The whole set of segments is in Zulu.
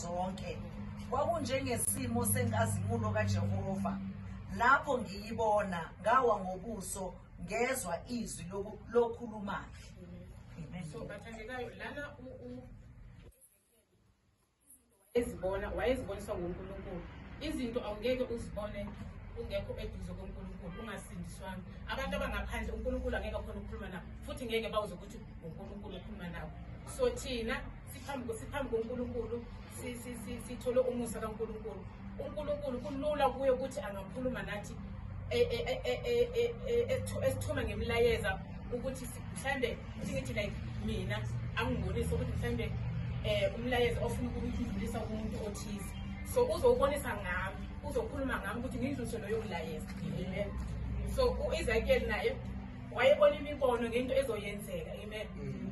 zonke. Kwakunjengesimo senkazimulo kaJehova. Lapho ngiyibona, ngawa ngobuso, ngezwa izwi loku- lokhulumayo. Amen. so bathandekayo lana u- u- ezibona wayeziboniswa ngunkulunkulu izinto awungeke uzibone ungekho eduze konkulunkulu ungasindiswanga abantu abangaphandle unkulunkulu angeke akhona ukukhuluma nabo futhi ngeke bawuze ukuthi unkulunkulu ukhuluma nabo so thina siphambi siphambi koNkulunkulu sithole umusa kaNkulunkulu uNkulunkulu kulula kuye ukuthi angakhuluma nathi e, e, e, esithume ngemilayeza ukuthi mhlawumbe singithi like mina angibonise ukuthi mhlawumbe um umlayeza ofuna ukudlulisa kumuntu othize so uzowubonisa ngami uzokhuluma ngami ukuthi ngindlulise loyo mlayeza amen so u-isakeli naye wayebona imibono ngento ezoyenzeka amen mm.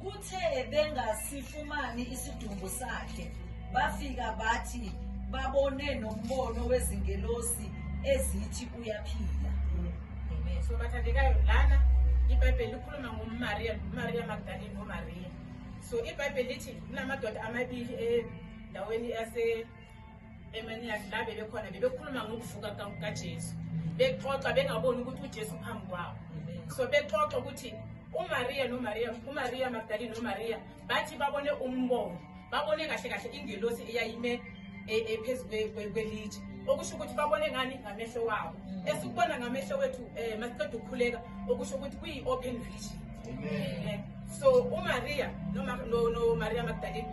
Kuthe bengasifumani isidumbu sakhe, bafika bathi babone nombono wezingelosi ezithi uyaphila. Amen. So bathandekayo lana iBhayibheli likhuluma ngoMariya, Maria Magdalene noMaria. So iBhayibheli lithi kunamadoda amabili endaweni yase Amen yakhe la bebekhona bebekhuluma ngokuvuka kukaJesu bexoxa bengaboni ukuthi uJesu phambi kwabo so bexoxa ukuthi uMaria noMaria uMaria Magdalene noMaria bathi babone umbono babone kahle kahle ingelosi eyayime e, e, phezu kwelitshe okusho ukuthi babone ngani ngamehlo wabo mm. esikubona ngamehlo wethu um masiqeda ukukhuleka okusho ukuthi kuyi-open vision eh, so umaria nomaria magdalene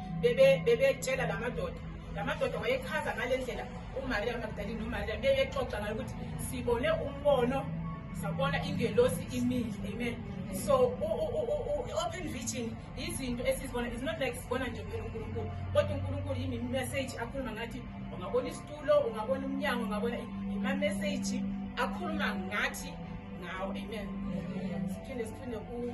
bebetshela la madoda la madoda wayechaza ngale ndlela umariya magdalini nomariya beyexoxa ngayo ukuthi sibone umbono sabona ingelosi imile amen so i-open vision izinto esizibona is not like sibona nje phela unkulunkulu kodwa unkulunkulu yimimeseji akhuluma ngathi ungabona isitulo ungabona umnyango ungabona imameseji akhuluma ngathi ngawo amen siphinde siphinde ku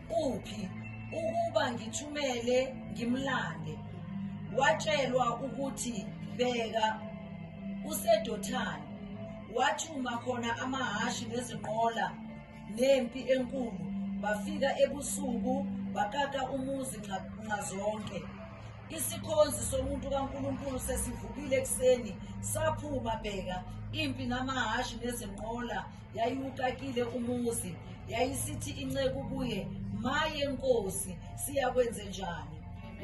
Kuphi ukuba ngithumele ngimlande? Watshelwa ukuthi bheka useDothani wathuma khona amahhashi nezinqola nempi enkulu bafika ebusuku bakaka umuzi nxazonke isikhonzi somuntu kaNkulunkulu sesivukile ekuseni saphuma bheka impi namahhashi nezinqola Yayiwuqakile umuzi, yayisithi inceku kuye, Maye Nkosi, siyakwenze njani?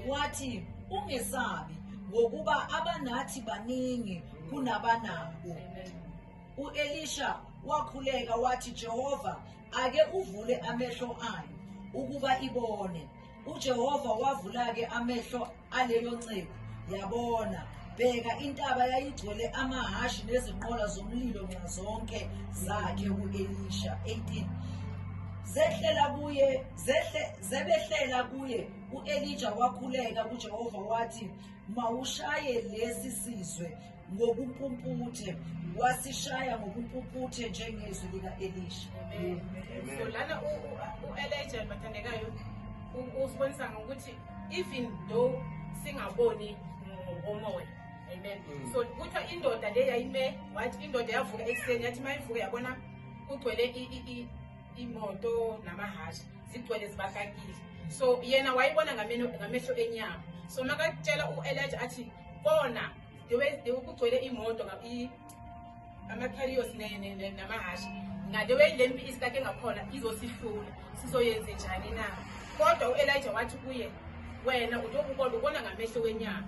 Wathi, Ungesabi, ngokuba abanathi baningi kunabanabo. U-Elisha wakhuleka wathi, Jehova, ake uvule amehlo ayo ukuba ibone. UJehova wavula-ke amehlo aleyo nceku yabona bheka intaba yayigcwele amahhashi nezinqola zomlilo nxazonke zakhe u-elisha 18 zehlela kuye zehle zebehlela kuye u-elija wakhuleka kujehova wathi mawushaye lesi sizwe ngokumpumputhe wasishaya ngokumpumputhe njengezwi lika-elisha so lana u-elija bathandekayo usibonisa ngokuthi even though singaboni ngokomoya amen mm. so kuthiwa indoda le yayime wathi indoda yavuka ekuseni yathi uma ivuka yabona kugcwele imoto namahasha zigcwele zibakakile so yena wayibona ngamehlo enyama so makatshela u-elija athi bona kugcwele imoto ama-carrios namahhashi ngale weyilempi isikade ngakhona izosihlula sizoyenze njani na kodwa u-elija wathi kuye wena utokubona ubona ngamehlo wenyama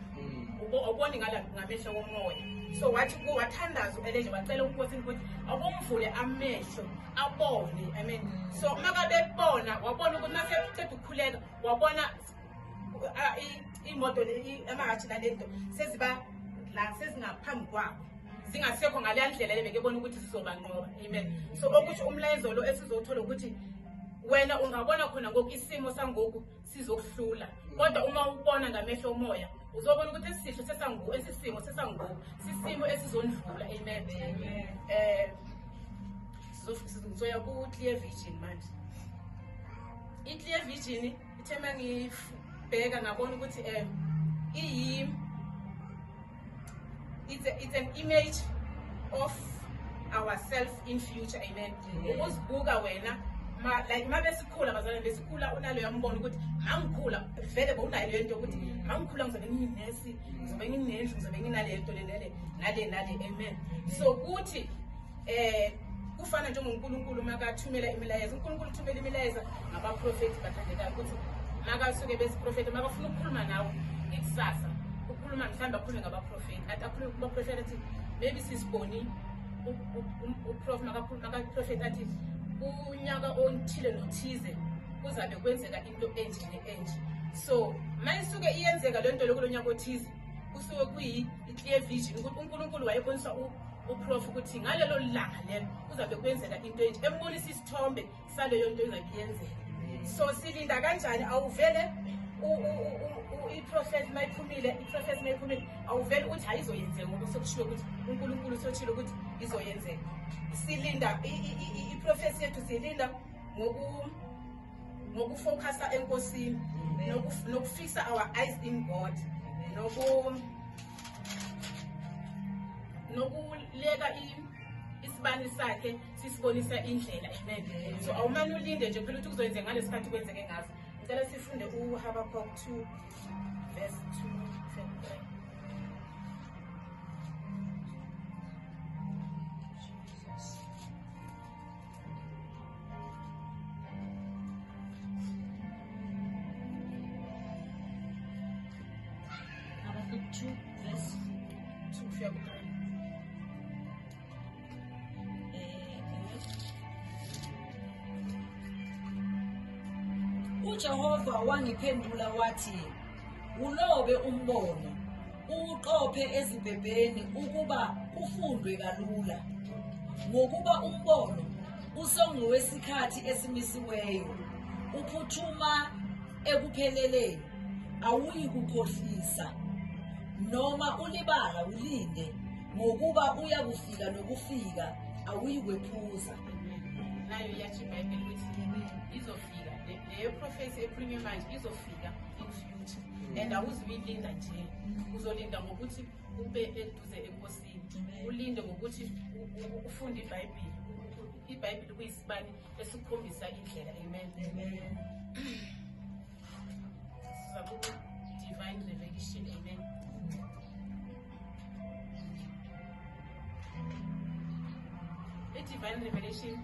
awuboni mm. ngala ngamehlo womoya so wathi ku wathandaza u-elija wacela unkosini ukuthi akumvule amehlo abone amen so uma kabebona wabona ukuthi uma sekuceda ukukhuleka wabona imoto amahathi nalento seziba la sezingaphambi kwabo zingasekho ngaleya ndlela le bekebona ukuthi sizobanqoba amen so okusho umlayezo lo esizowuthola ukuthi wena ungabona khona ngoku isimo sangoku sizokuhlula kodwa uma ubona ngamehlo omoya uzobona ukuthi esisisho sesangu esisimo sesangoku sisimo esizondlula amen eh sizoya ku-clear vision manje i-clear vision ithe uma ngibheka ngabona ukuthi um iyimi it's, a, it's an image of ourself in future amen ukuzibuka wena ma like uma besikhula bazalwane besikhula unaleyo mbono ukuthi mangikhula vele bowunayo leyo nto ukuthi mangikhula ngizobe nginesi ngizobe nginendlu ngizobe nginale nto le nale nale nale amen so kuthi Eh kufana njengoNkulunkulu makathumela imilayezo uNkulunkulu uthumela imilayezo ngabaprofethi bathandekayo ukuthi makasuke besiprofethi makafuna ukukhuluma nawe ikusasa ukhuluma mhlawumbe akhulume ngabaprofethi athi akhulume kubaprofethi athi maybe sisiboni makaprofethi athi kunyaka onithile nothize kuzabe kwenzeka into enje ne-enje so ma isuke iyenzeka le nto lokulo nyaka othize kusuke kuyi-clear vision ukuthi unkulunkulu wayebonisa uprof ukuthi ngalelo langa lelo kuzabe kwenzeka into enje embonisa isithombe saleyo nto engabe yenzeka so silinda kanjani awuvele iprofet mayiphumile iprofet mayiphumile awuvele ukuthi hayi izoyenzeka ngoba sokushiwo ukuthi unkulunkulu soshilo ukuthi izoyenzeka silinda iprofesi yethu siyilinda ngoku ngokufocusa enkosini nokufisa our eyes in god noku nokuleka isibani sakhe sisibonisa indlela amen so awumane ulinde nje phela ukuthi kuzoyenzeka ngalesi khathi kwenzeke ngaso ngicela sifunde uhabakok 2 verse 2 Jesus. uJehova wangiphendula wathi, Ulobe umbono Uqophe ezibhebheni ukuba kufundwe kalula ngokuba umbono usongowesikhathi esimisiweyo uphuthuma ekupheleleni awuyi kukhohlisa noma ulibala ulinde ngokuba uyakufika nokufika awuyi kwephuza nayo iyasho ibhayibheli ukuthi izofika leyo prophecy ekhulunywa manje izofika and awuzuyilinda nje uzolinda ngokuthi ube eduze enkosini ulinde ngokuthi ufunde ibhayibhile ibhayibhile kuyisibani esikhombisa indlela amen divine revelation amen i-divine revelation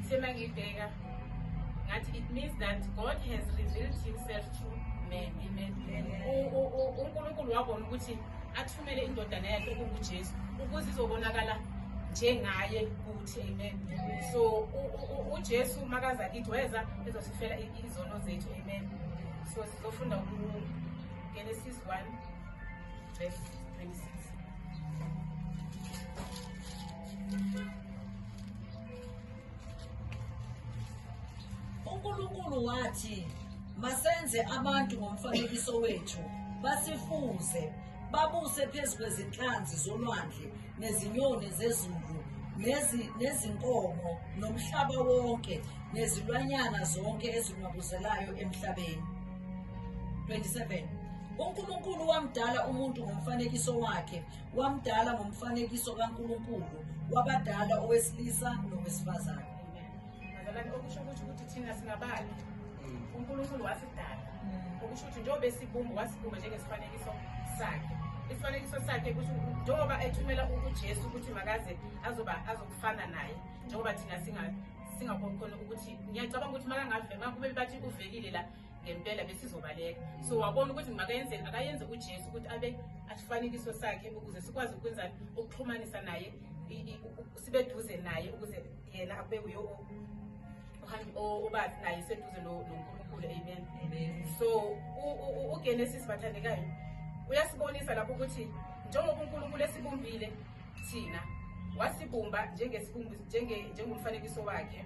Semangidega. That it means that God has revealed himself to men. Amen. uNkulunkulu wabona ukuthi athumele indodana yakhe kunguJesu ukuze izobonakala njengaye kuthi amen so uJesu makaza kithi weza ezosifela izono zethu amen so sizofunda ku Genesis 1 verse 26 uNkulunkulu wathi masenze abantu ngomfanekiso wethu basifuze babuse phezu kwezinhlanzi zolwandle nezinyoni zezulu nezinkomo nomhlaba wonke nezilwanyana zonke ezinwabuzelayo emhlabeni 27 uNkulunkulu wamdala umuntu ngomfanekiso wakhe Wamdala ngomfanekiso kaNkulunkulu wabadala owesilisa nowesifazane. Bazalwane okusho ukuthi ukuthi thina singabani? Mm. UNkulunkulu wasidala. Mm. Okusho ukuthi njengoba esibumba wasibumba njengesifanekiso sakhe. Isifanekiso sakhe kusho njengoba ethumela uJesu ukuthi makaze azoba azokufana naye njengoba thina singa singakhona ukuthi ngiyacabanga ukuthi makangavema kube bathi uvelile la ngempela besizobaleka so wabona ukuthi makayenzeni akayenze ujesu ukuthi abe asifanekiso sakhe ukuze sikwazi ukwenzani ukuxhumanisa naye sibe duze naye ukuze yena abe uyo obathi naye seduze nonkulunkulu amen so ugenesis bathandekayo uyasibonisa lapho ukuthi njengoba unkulunkulu esibumbile thina wasibumba njengomfanekiso wakhe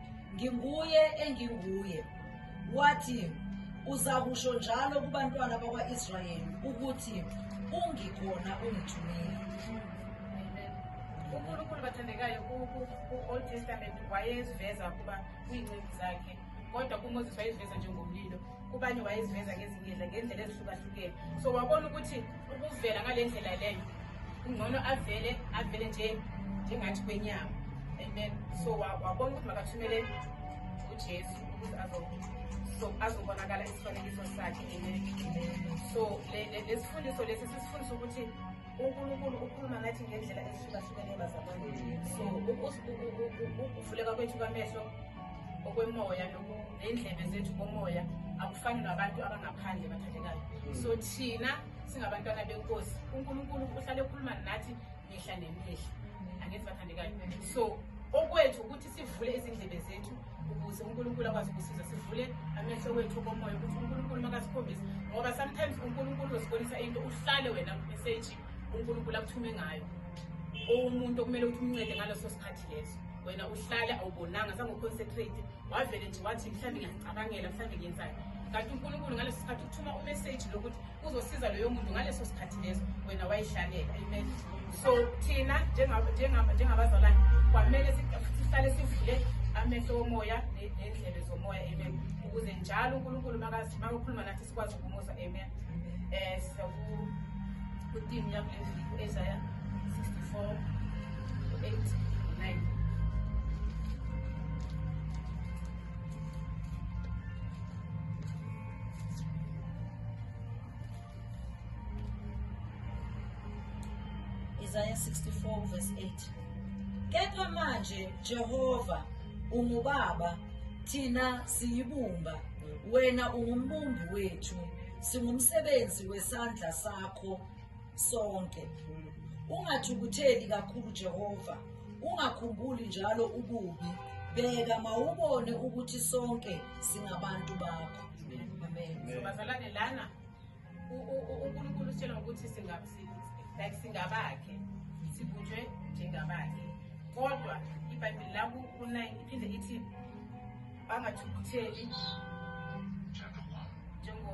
Nginguye enginguye. Wathi, Uzakusho njalo kubantwana bakwa-Israyeli ukuthi ungikhona ungithumile. uNkulunkulu bathandekayo ku-Old Testament wayeziveza ukuba kuyinceku zakhe kodwa kuMoses wayeziveza njengomlilo kubanye wayeziveza ngezingedla ngendlela ezihlukahlukene so wabona ukuthi ukuvela ngale ndlela leyo kungcono avele avele nje njengathi kwenyama and then so wabona ukuthi makathumele ujesu ukuze so azobonakala isifanekiso sakhe so lesifundiso lesi sisifundisa ukuthi unkulunkulu ukhuluma ngathi ngendlela ezihlukahlukene bazalwane so ukuvuleka kwethu kwamehlo okwemoya lokhu ney'ndlebe zethu komoya akufani nabantu abangaphandle bathandekayo hmm. so thina singabantwana benkosi unkulunkulu uhlale ekhuluma nathi mihla nemihla hmm. angithi bathandekayo so okwethu ukuthi sivule izindlebe zethu ukuze unkulunkulu akwazi ukusiza sivule amehlo wethu komoya ukuthi unkulunkulu makasikhombise ngoba sometimes unkulunkulu uzibonisa into uhlale wena meseji unkulunkulu akuthume ngayo owomuntu okumele ukuthi umncede ngaleso sikhathi leso wena uhlale awubonanga zange uconcentrate wavele nje wathi mhlawumbe ngiyacabangela mhlawumbe ngiyenzani kanti unkulunkulu ngaleso sikhathi uthuma umeseji lokuthi uzosiza loyo muntu ngaleso sikhathi leso wena wayihlalela amen so thina njengabazalwane kwamele sihlale sivule amehlo womoya nendlebe zomoya amen ukuze njalo unkulunkulu makakhuluma nathi sikwazi ukumuza amen um eh, siyakutim yakule viki ezaya 64 Isaiah 64 verse 8 Kepha manje Jehova ungubaba thina siyibumba wena ungumbumbi wethu singumsebenzi wesandla sakho sonke ungathukutheli kakhulu jehova ungakhumbuli njalo ububi bheka mawubone ukuthi sonke singabantu bakho so bazalwane lana unkulunkulu usitshela ngokuthi like singabakhe sibunjwe njengabakhe kodwa ibhayibheli laku kunayini iphinde ithi bangathukutheli njengo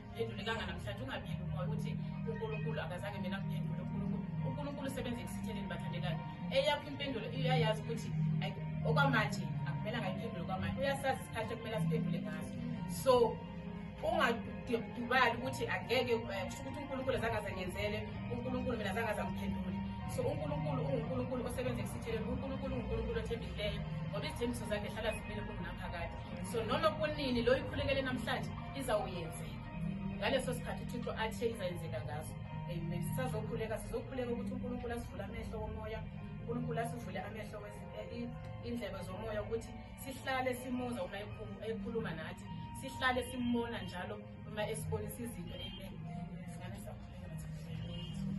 phendulekanga namhlanje ungabili umoya ukuthi unkulunkulu akazange mina kuphendule unkulunkulu usebenza ekusitheleni bathandekayo eyakho impendulo iyayazi ukuthi okwamanje akumele angayiphendule okwamanje uyasazi isikhathi ekumele asiphendule ngaso so ungadubali ukuthi angeke eh, kusho ukuthi unkulunkulu azange azengenzele unkulunkulu mina azange azangiphendule so unkulunkulu ungunkulunkulu osebenza ekusitheleni unkulunkulu ungunkulunkulu othembikileyo ngoba izithembiso zakhe hlala zimile kungunaphakade so noma kunini lo ikhulekele namhlanje izawuyenzeka ngaleso sikhathi uthixo athe izayenzeka ngaso amen sisazokhuleka sizokhuleka ukuthi unkulunkulu asivule amehlo womoya unkulunkulu asivule amehlo eh, indlebe zomoya ukuthi sihlale simuza uma ekhuluma nathi sihlale simbona njalo uma esibonisa izinto amen